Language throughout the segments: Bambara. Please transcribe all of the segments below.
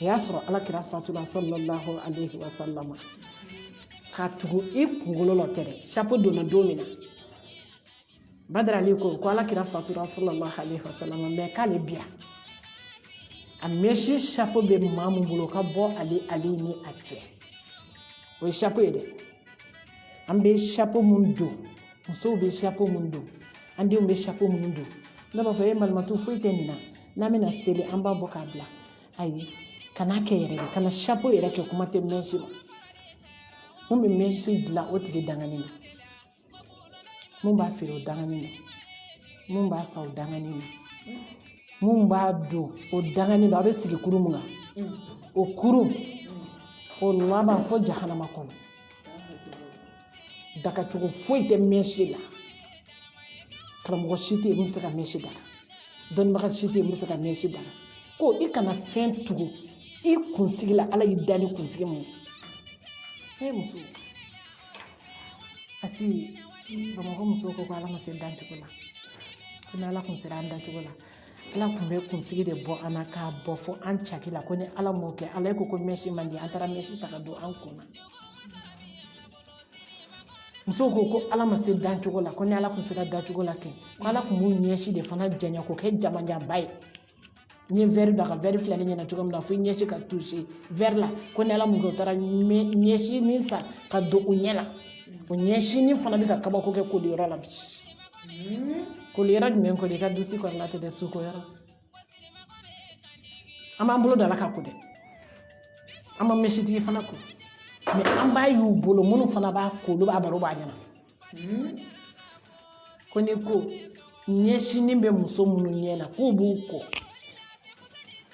o y'a sɔrɔ ala kira fatula sallallahu alaihi wa sallama ka tugu i kunkolo la tɛ dɛ sapo donna don min na badara ali ko ko ala kira fatura sallallahu alaihi wa sallama mɛ k'ale biya a mɛsi sapo bɛ maa min bolo ka bɔ ale ale ni a cɛ o ye sapo ye dɛ an bɛ sapo mun don musow bɛ sapo mun don an denw bɛ sapo mun don ne b'a fɔ e malimatu foyi tɛ nin na n'an bɛna seli an b'a bɔ k'a bila ayi kana kɛ yɛrɛ de kana sapo yɛrɛ kɛ kuma tɛ mɛsi ma mun bɛ mɛsi dilan o tigi dangani na mun b'a feere o dangani na mun b'a san o dangani na mun b'a don o dangani na a bɛ sigi kurun mun na o kurun o laban fo jahanama kɔnɔ dagacogo foyi tɛ mɛsi la karamɔgɔ si tɛ yen min bɛ se ka mɛsi daga dɔnnibaga si tɛ yen min bɛ se ka mɛsi daga ko i kana fɛn tugu i kunsigi la ala y'i da ni kunsigi mun ye muso asi bamakɔ musow ko ko ala ma se dancogo la ko n'ala kun sera an dancogo la ala tun bɛ kunsigi de bɔ an na k'a bɔ fo an caki la ko ni ala m'o kɛ ala ko ko mɛsi man di an taara mɛsi ta ka don an kun na musow ko ko ala ma se dancogo la ko ni ala tun sera dancogo la kɛ ko ala tun b'u ɲɛsi de fana janya k'o kɛ jamanjanba ye n ye wɛri da ka wɛri filɛ ne ɲɛ na cogo min na fo ɲɛsi ka tuse wɛri la ko ni ala m'o kɛ u taara ɲɛsinin san ka don u ɲɛ la o ɲɛsinin fana bɛ ka kabako kɛ koliyɔrɔ la bi koliyɔrɔ jumɛn koli i ka dusi kɔni la tɛ dɛ sukoyɔrɔ an b'an bolo da la ka ko dɛ an ma mɛsitigi fana ko mɛ an b'a y'u bolo minnu fana b'a ko olu b'a baro b'a ɲɛna ko ni ko ɲɛsinin bɛ muso minnu ɲɛ la k'u b'u ko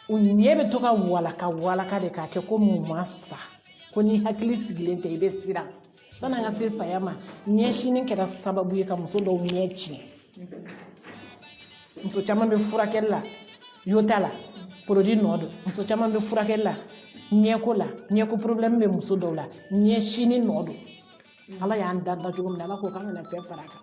u ɲɛ bɛ to ka walaka walaka de k'a kɛ komi u ma sa ko n'i hakili sigilen tɛ i bɛ siran san'an ka se saya ma ɲɛsinin kɛra sababu ye ka muso dɔw ɲɛ tiɲɛ muso caman bɛ furakɛli la yota la porodi nɔ don muso caman bɛ furakɛli la ɲɛko la ɲɛko porobilɛmu bɛ muso dɔw la ɲɛsinin nɔ don ala y'an da dacogo min na ala ko k'an kana fɛn fara a kan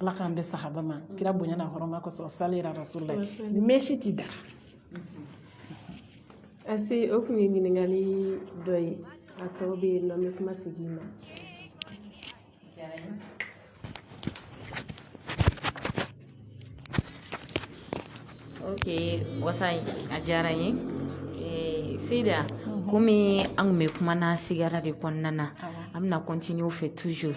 ala k'an bɛn sawaba ma kira bonya n'a hɔrɔma kosɔn sali ala rasulila mɛsi ti daga asi o kun ye ɲininkali dɔ ye a tɔ bɛ yen nɔ n bɛ kuma segin ma ok wasa a diyara n ye eh, sida mhm. komi an kun bɛ kuma na sigara de kɔnɔna na an bɛna kɔntine o fɛ toujours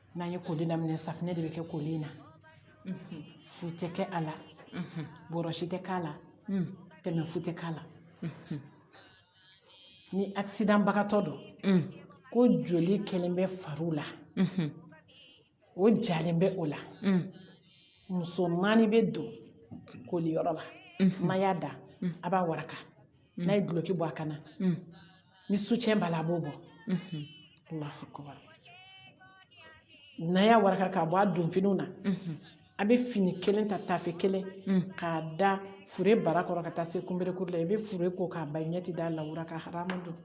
n'an ye koli daminɛ safinɛ de bɛ kɛ koli in na fu tɛ kɛ a la bɔrɔsi tɛ k'a la tɛmɛ fu tɛ k'a la ni akisidanbagatɔ don ko joli kɛlen bɛ fariw la o jalen bɛ o la muso naani bɛ don koliyɔrɔ la n'a y'a da a b'a waraka mm. n'a ye duloki bɔ a kan na mm. ni sucɛn b'a la a b'o bɔ mm-hmm. allahu akbar n'a y'a waraka k'a bɔ a donfiniw na mm-hmm. a bɛ fini kelen ta tafe kelen mm. k'a da fure bara kɔrɔ ka taa se kunberekuru la i bɛ fure ko k'a ban ɲɛ tɛ da lawura kan haramu don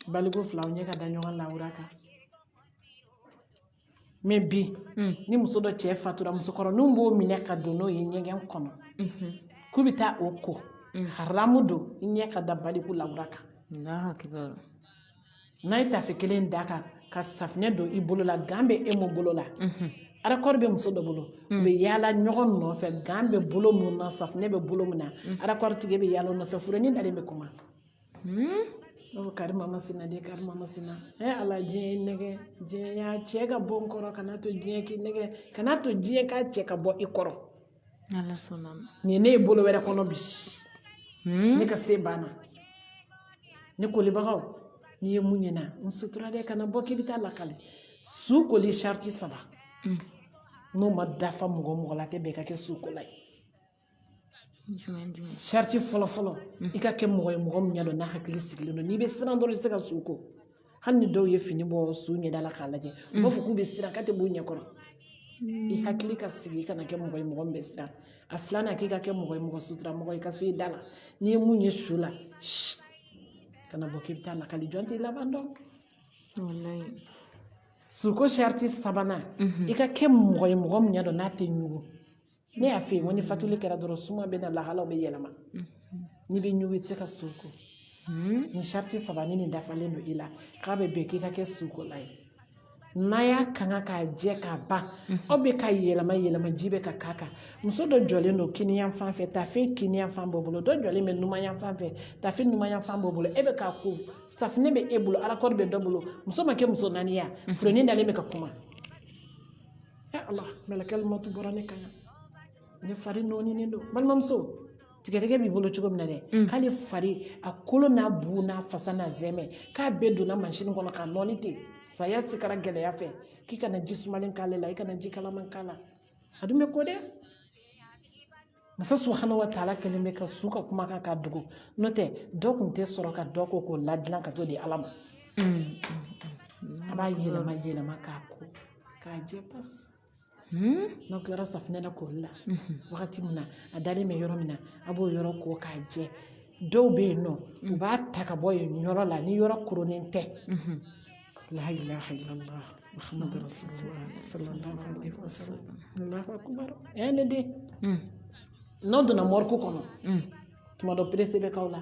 baliku filaw ɲɛ ka da ɲɔgɔn lawura kan mɛ bi mm. ni muso dɔ cɛ fatura musokɔrɔninw b'o minɛ ka don n'o ye ɲɛgɛn kɔnɔ mm-hmm. k'u bɛ taa o ko mm. haramu don i ɲɛ ka da baliku lawura kan n'a ye tafe kelen da a kan ka safinɛ don i bolo la gan bɛ e mun bolo la mm-hmm. arakɔri bɛ muso dɔ bolo u mm. bɛ yaala ɲɔgɔn nɔfɛ gan bɛ bolo mun na safinɛ bɛ bolo min na mm. arakɔri tigi bɛ yaala nɔfɛ furenin dalen bɛ kuma Hmm? o kari mama sina de kari mama sina ɛ ala diɲɛ ye n nɛgɛn diɲɛ y'a cɛ ka bɔ n kɔrɔ kana to diɲɛ k'i nɛgɛn kana to diɲɛ k'a cɛ ka bɔ i kɔrɔ ala sɔnna ma nin ye ne ye bolo wɛrɛ kɔnɔ bi hmm? ne ka se banna ne kolibagaw n'i ye mun ye n na n sutura dɛ kana bɔ k'i bɛ taa lakali su koli sariti saba hmm. n'o ma dafa mɔgɔ mɔgɔ la tɛ bɛn ka kɛ su kola ye sariti fɔlɔ fɔlɔ i ka kɛ mɔgɔ ye mɔgɔ min n'i y'a dɔn n'a hakili sigilen don n'i bɛ siran dɔrɔn i tɛ se ka su ko hali ni dɔw ye fini bɔ su ɲɛda la k'a lajɛ u b'a fɔ k'u bɛ siran k'a tɛ b'u ɲɛ kɔrɔ i hakili ka sigi i kana kɛ mɔgɔ ye mɔgɔ min bɛ siran a filanan k'i ka kɛ mɔgɔ ye mɔgɔ sutura mɔgɔ i ka se i da la n'i ye mun ye su la kana bɔ k'i bɛ taa lakali jɔn t'i laban dɔn suko sariti sabanan i ka kɛ mɔgɔ ye mɔgɔ min n'i y'a dɔn n'a tɛ ɲugun ne y'a f'i ye n ko ni fatuli kɛra dɔrɔn suma bɛ na lahalaw bɛ yɛlɛma n'i bɛ ɲugun i tɛ se ka su ko nin sariti saba ni nin dafalen don i la k'a bɛ bɛn k'i ka kɛ sukola ye n'a y'a kanga k'a jɛ k'a ban aw bɛ k'a yɛlɛma yɛlɛma ji bɛ ka k'a kan muso dɔ jɔlen don kiniyan fan fɛ tafe kiniyan fan b'o bolo dɔ jɔlen bɛ numanyan fan fɛ tafe numanyan fan b'o bolo e bɛ k'a ko safinɛ bɛ e bolo arakɔri bɛ dɔ bolo muso ma kɛ muso naani ye furenin dalen bɛ ka kuma ɛ ala mɛlɛkɛli mɔtu bɔra ne kan ne fari nɔɔninen don balimamuso tigɛdɛgɛ b'i bolo cogo min na dɛ mm. k'ale fari a kolo n'a bu n'a fasa n'a zɛmɛ k'a bɛɛ donna mansini kɔnɔ k'a nɔɔni ten saya sikara gɛlɛya fɛ k'i kana ji sumalen k'ale la i kana ji kalaman k'a la a dun bɛ ko dɛ masa subhana wa taala kɛlen bɛ ka su ka kumakan k'a dogo n'o tɛ dɔ tun tɛ sɔrɔ ka dɔ ko k'o ladilan ka t'o di ala ma a b'a yɛlɛma yɛlɛma k'a ko k'a jɛ pasi n'aw tilara safinɛ na koli la wagati min na a dalen bɛ yɔrɔ min na a b'o yɔrɔ ko k'a jɛ dɔw bɛ yen nɔ u b'a ta ka bɔ yen yɔrɔ la ni yɔrɔ koronnen tɛ laa ilaaha illallah muhammad rasulullah sallallahu alayhi wa sallam allahu akbar yaa ne de hmm. n'aw donna mɔriku kɔnɔ hmm. tuma dɔ perese bɛ k'aw la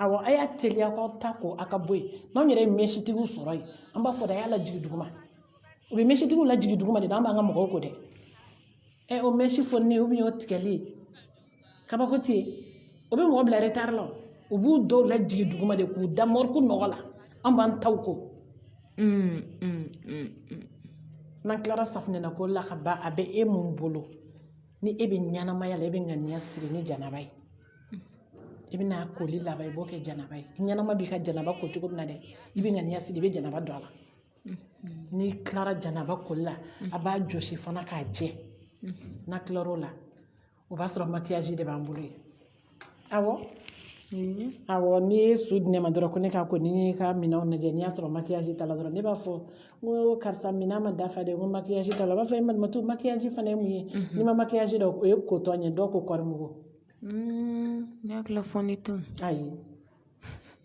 awɔ a y'a teliya k'aw ta ko a ka bɔ yen n'anw yɛrɛ ye mɛsitigiw sɔrɔ yen an b'a fɔ de a y'a lajigin duguma u bɛ mɛsitigiw lajigin duguma de dɛ an b'an ka mɔgɔw ko dɛ ɛ o mɛsi foni ou bien o tigɛli kabako tɛ yen o bɛ mɔgɔ bila retari la u b'u dɔw lajigin duguma de k'u da mɔriku nɔgɔ la an b'an taw ko n'an tilara safinɛ na ko la ka ban a bɛ e mun bolo ni e bɛ ɲɛnamaya la e bɛ ŋaniya siri ni janaba ye i bɛna koli laban i b'o kɛ janaba ye ɲɛnama b'i ka janaba ko cogo min na dɛ i bɛ ŋaniya siri i bɛ janaba don a la n'i tilara janaba koli la a b'a jɔsi fana k'a jɛ n'a tilar'o la o b'a sɔrɔ makiyaji de b'an bolo yen awɔ awɔ n'i ye su di ne ma dɔrɔn ko ne k'a ko ni n ka minɛnw lajɛ n'i y'a sɔrɔ makiyaji t'a la dɔrɔn ne b'a fɔ n ko karisa minɛn ma dafa dɛ n ko makiyaji t'a la u b'a fɔ e malimatu makiyaji fana ye mun ye n'i ma makiyaji dɔn o ye kotɔn ye dɔw ko kɔɔrimugu ne hakili la fond de teint ayi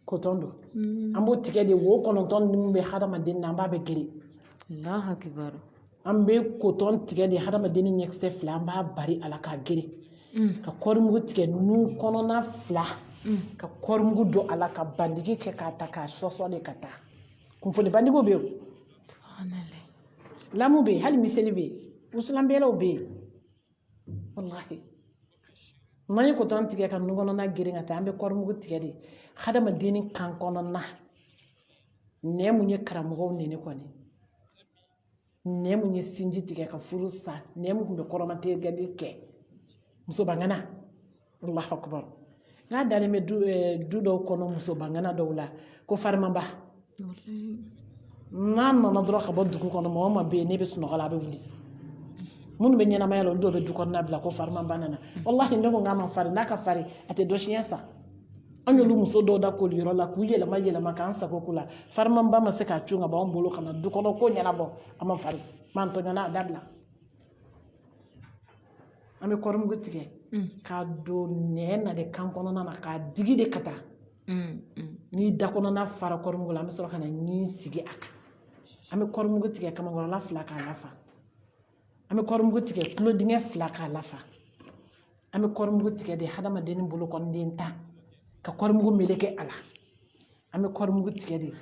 kotɔn don mm. an b'o tigɛ de wo kɔnɔntɔn min bɛ hadamaden na an b'a bɛɛ geren an bɛ kotɔn tigɛ de hadamaden ni ɲɛkisɛ fila an b'a bari a la k'a geren mm. ka kɔrimugu tigɛ nun kɔnɔna fila mm. ka kɔrimugu don a la ka bandigi kɛ k'a ta k'a sɔsɔ de ka taa kunfoli bandigiw bɛ yen lamu bɛ yen hali miseli bɛ yen wusulanbɛlaw bɛ yen wallahi n'an ye kotɔn tigɛ ka nun kɔnɔna geren ka taa an bɛ kɔrimugu tigɛ de hadamaden ni kan kɔnɔna nɛn mun ye karamɔgɔw nɛni kɔni nɛn mun ye sinji tigɛ ka furu sa nɛn mun tun bɛ kɔrɔmatigɛli kɛ musobaŋana allahu akbar n'a dalen bɛ du eh, du dɔw kɔnɔ muso bangana dɔw la ko farimaba n'a nana dɔrɔn ka bɔ dugu kɔnɔ mɔgɔ min bɛ yen n'a bɛ sunɔgɔ la a bɛ wuli minnu bɛ ɲɛnamaya la olu dɔw bɛ du kɔnɔna bila ko farimaba nana walahi ne ko n k'a ma farin n'a ka farin a tɛ dɔ siɲɛ san an y'olu muso dɔw da koli yɔrɔ la k'u yɛlɛma yɛlɛma k'an sago k'u la farimaba ma se k'a cun ka bɔ an bolo ka na du kɔnɔ ko ɲɛnabɔ a ma farin mantɔɲɔna a dabila an bɛ kɔrimugu tigɛ mm. k'a don nɛn na de kan kɔnɔna na k'a digi de ka taa mm, mm. ni da kɔnɔna fara kɔrimugu la an bɛ sɔrɔ ka na ɲin sigi a kan an bɛ kɔrimugu tigɛ kamankɔrɔla fila k'a lafa an bɛ kɔrimugu tigɛ tulo dingɛ fila k'a lafa an bɛ kɔrimugu tigɛ de hadamaden ni bolokɔniden tan ka kɔrimugu meleke a la an bɛ kɔrimugu tigɛ de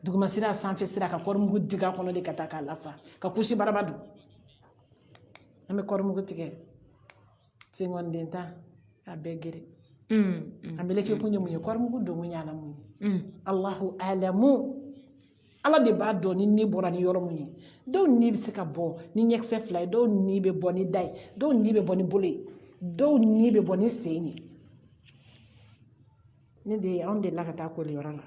duguma sira sanfɛ sira ka kɔrimugu digi a kɔnɔ de ka taa k'a lafa ka kusi baraba don an bɛ kɔrimugu tigɛ senkɔniden tan a bɛɛ gere an b'a meleke kun ye mun ye kɔrimugu donkun ye ala mun ye alahu alamu ala de b'a dɔn ni ni bɔra ni yɔrɔ min ye dɔw ni bɛ se ka bɔ ni ɲɛkisɛ fila ye dɔw ni bɛ bɔ ni da ye dɔw ni bɛ bɔ ni bolo ye dɔw ni bɛ bɔ ni sen ye ne de anw de la ka taa koliyɔrɔ la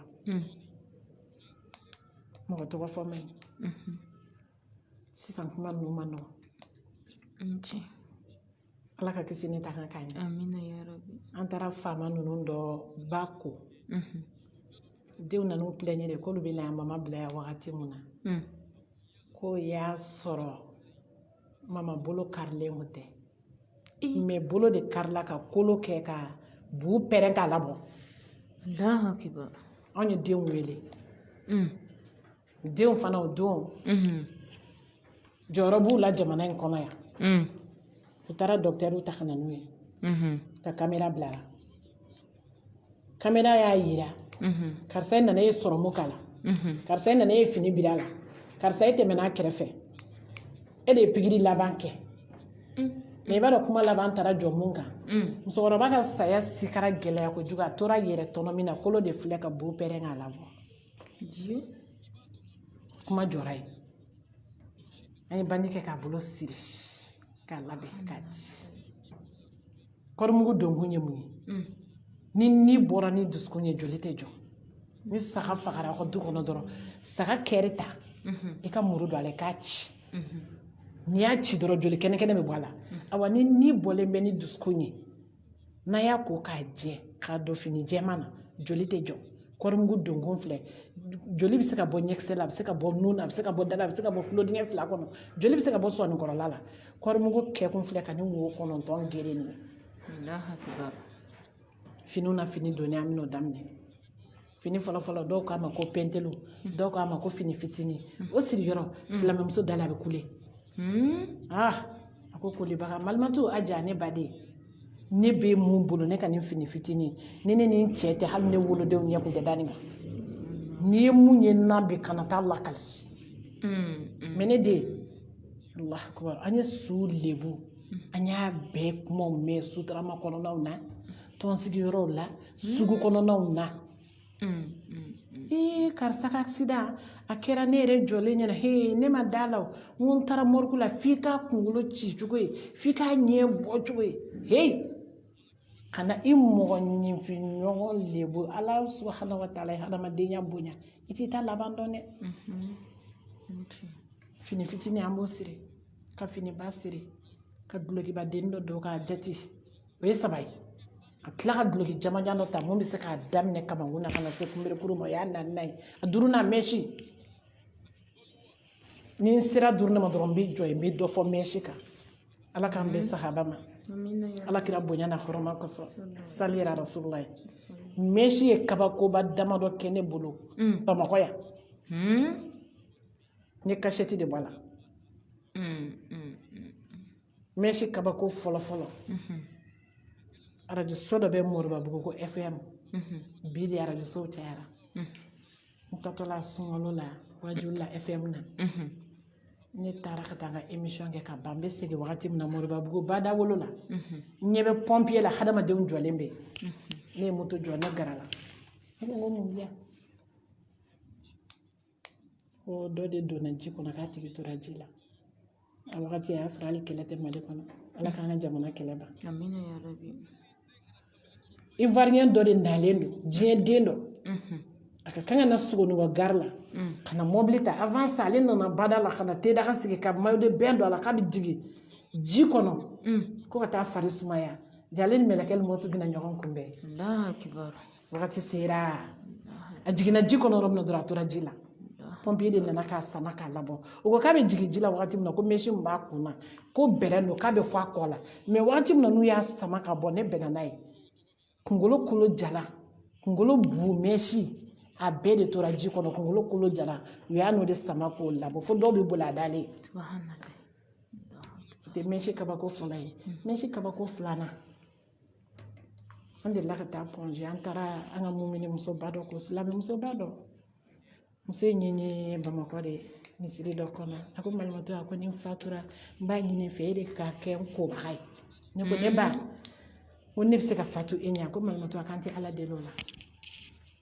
mɔgɔ tɔgɔ fɔ man ɲi sisan kuma ninnu man nɔgɔn ala ka kisi ni tanga k'an ye an taara faama ninnu dɔ ba ko mhm. denw nan'u pilɛɲɛ de k'olu bɛ na yan mama bila yan wagati min na mm. k'o y'a sɔrɔ mama bolo karilen kun tɛ mɛ bolo de karila ka kolo kɛ ka buu pɛrɛn k'a labɔ anw ye denw wele mm. denw fana o don jɔyɔrɔ b'u la jamana in kɔnɔ yan u taara dɔkitɛriw ta ka na n'u ye ka kamera bil'a la kamera y'a yira karisa nana e sɔrɔmu k'a la karisa nana e fini bir'a la karisa e tɛmɛna a kɛrɛfɛ e de ye pikiri laban kɛ mɛ i b'a dɔn kuma laban taara jɔ mun kan musokɔrɔba ka saya sikara gɛlɛya kojugu a tor'a yɛrɛ tɔnɔmi na kolo de filɛ ka buu pɛrɛn k'a labɔ ji kuma jɔra yen an ye bandi kɛ k'a bolo siri k'a labɛn k'a di kɔrimugu donkun ye mun ye mm. ni ni bɔra ni dusukun ye joli tɛ jɔ ni saga fagara aw ka du kɔnɔ dɔrɔn saga kɛri ta mm-hmm. i ka muru don a la i k'a ci mm-hmm. n'i y'a ci dɔrɔn joli kɛnɛkɛnɛ bɛ bɔ a la mm-hmm. awa ni ni bɔlen bɛ ni dusukun ye n'an y'a ko k'a jɛ k'a don fini jɛman na joli tɛ jɔ kɔɔrimugu donkun filɛ joli bɛ se ka bɔ ɲɛkisɛ la a bɛ se ka bɔ nun na a bɛ se ka bɔ da la a bɛ se ka bɔ tulodingɛ fila kɔnɔ joli bɛ se ka bɔ sɔnikɔrɔla la kɔɔrimugu kɛkun filɛ ka nin wo kɔnɔntɔn geren nin finiw na fini donni an bɛn'o daminɛ fini fɔlɔ fɔlɔ dɔw k'a ma ko pɛntɛlu dɔw k'a ma ko fini fitinin o siri yɔrɔ silamɛmuso da la a bɛ kule ah a ko kolibaga malimatu a ja ne baden ne bɛ mun bolo ne ka nin fini fitinin ni ne ni n cɛ tɛ hali ne wolodenw ɲɛ kun tɛ da nin kan n'i ye min ye n na bi kana taa lakali mɛ ne den allahu akubar an ye su lebu an y'a bɛɛ kumaw mɛn sotarama kɔnɔnaw na tɔnsigiyɔrɔw la sugu kɔnɔnaw na ee karisa ka aksidan a kɛra ne yɛrɛ jɔlen ɲɛna he ne ma da a la o n ko n taara mɔrigu la f'i k'a kunkolo ci cogo ye f'i k'a ɲɛ bɔ cogo ye he kana i mɔgɔninfin ɲɔgɔn lebu ala subahana wa taala ye hadamadenya bonya i t'i ta laban dɔn dɛ fini fitinin an b'o siri ka finiba siri ka dulokibaden dɔ don k'a jati o ye saba ye ka tila ka duloki jamanjan dɔ ta min bɛ se k'a daminɛ kamankun na ka na se kunberekuru ma o y'a naani ye a duurunan mɛsi ni n sera duurunan ma dɔrɔn n bɛ jɔ yen n bɛ dɔ fɔ mɛsi kan ala k'an bɛn sahaba ma ala kira bonya n'a hɔrɔma kosɔn sali ala rasululayi mɛsi ye kabakoba damadɔ kɛ ne bolo bamakɔ yan n ye kasɛti de bɔ a la mɛsi kabako fɔlɔ fɔlɔ arajoso dɔ bɛ moribabugu ko fm bi de arajosow cayara n tatɔla sunkalo la wajuli la fm na ne taara ka taa n ka emisiyɔn kɛ ka ban n bɛ segin wagati min na moribabugu badawolo la n ɲɛ bɛ pɔnpiye la hadamadenw jɔlen bɛ ne ye moto jɔ ne gɛrɛla ne ko n ko mun bɛ yan ko dɔ de donna ji kɔnɔ k'a tigi tora ji la a wagati a y'a sɔrɔ hali kɛlɛ tɛ mali kɔnɔ ala k'an ka jamana kɛlɛ ban ivoirien dɔ de nalen don diɲɛ den dɔ mhm. a ka kan ka na sogonikɔ gari la mm. ka na mɔbili ta avant ça ale nana bada la ka na te daga sigi ka maillot de bain don a la k'a bɛ jigin ji kɔnɔ mm. ko ka taa fari sumaya jaa ale ni mɛlɛkɛli mɔtu bɛna ɲɔgɔn kunbɛn wagati sera a jiginna ji kɔnɔ yɔrɔ min na dɔrɔn a tora ji la pɔnpiye de nana k'a sama k'a labɔ u ko k'a bɛ jigin ji la wagati min na ko mɛsi min b'a kun na ko bɛrɛ don k'a bɛ fo a kɔ la mɛ wagati min na n'u y'a sama ka bɔ ne bɛnna n'a ye kunkolo kolo jalan kunkolo bu mɛsi a bɛɛ de tora ji kɔnɔ kunkolo kolo jalan u y'a n'o de sama k'o labɔ fo dɔw bɛ boli a dalen o tɛ mɛsi kabako fɔlɔ ye mɛsi kabako filanan an delila ka taa pɔnze an taara an ka mumini musoba dɔ ko silamɛmusoba dɔ muso ye n ɲini bamakɔ de misiri dɔ kɔnɔ a ko malimatu a ko ni n fatura n b'a ɲini fɛ e de ka kɛ n kobaga ye ne ko ne ba ko ne bɛ se ka fatu e ɲɛ a ko malimatu a k'an tɛ ala deli o la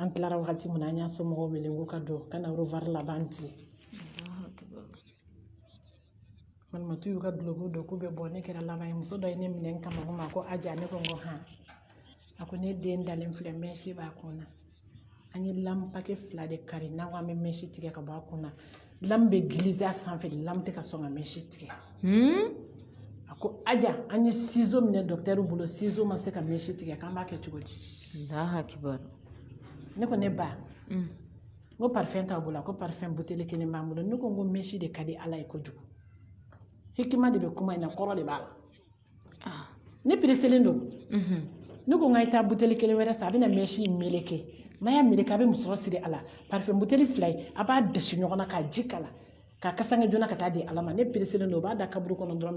an tilara wagati min na an y'a somɔgɔw wele k'u ka don ka na orevuwari laban di malimatu y'u ka duloki don k'u bɛ bɔ ne kɛra laban ye muso dɔ ye ne minɛ n kamankun ma ko aja ne ko n ko han a ko ne den dalen filɛ mɛsi b'a kun na an ye lamu pake fila de kari n'an ko an bɛ mɛsi tigɛ ka bɔ a kun na lamu bɛ gilize a sanfɛ de lamu tɛ ka sɔn ka mɛsi tigɛ a ko aja an ye sizo minɛ dɔkitɛriw bolo sizo ma se ka mɛsi tigɛ k'an b'a kɛ cogo di ne ko ne ba n ko parifɛn t'aw bolo a ko parifɛn buteli kelen b'an bolo ne ko n ko mɛsi de ka di ala ye kojugu hikima de bɛ kuma in na kɔrɔ de b'a la ah, ne pereselen don mhm. ne ko n k'a ye taa buteli kelen wɛrɛ san a bɛna mɛsi in meleke n'a y'a meleke a bɛ musɔrɔ siri a la parifɛn buteli fila ye a b'a dasi ɲɔgɔn na k'a ji k'a la k'a kasange joona ka taa di ala ma ne pereselen don o b'a da kaburu kɔnɔ dɔrɔn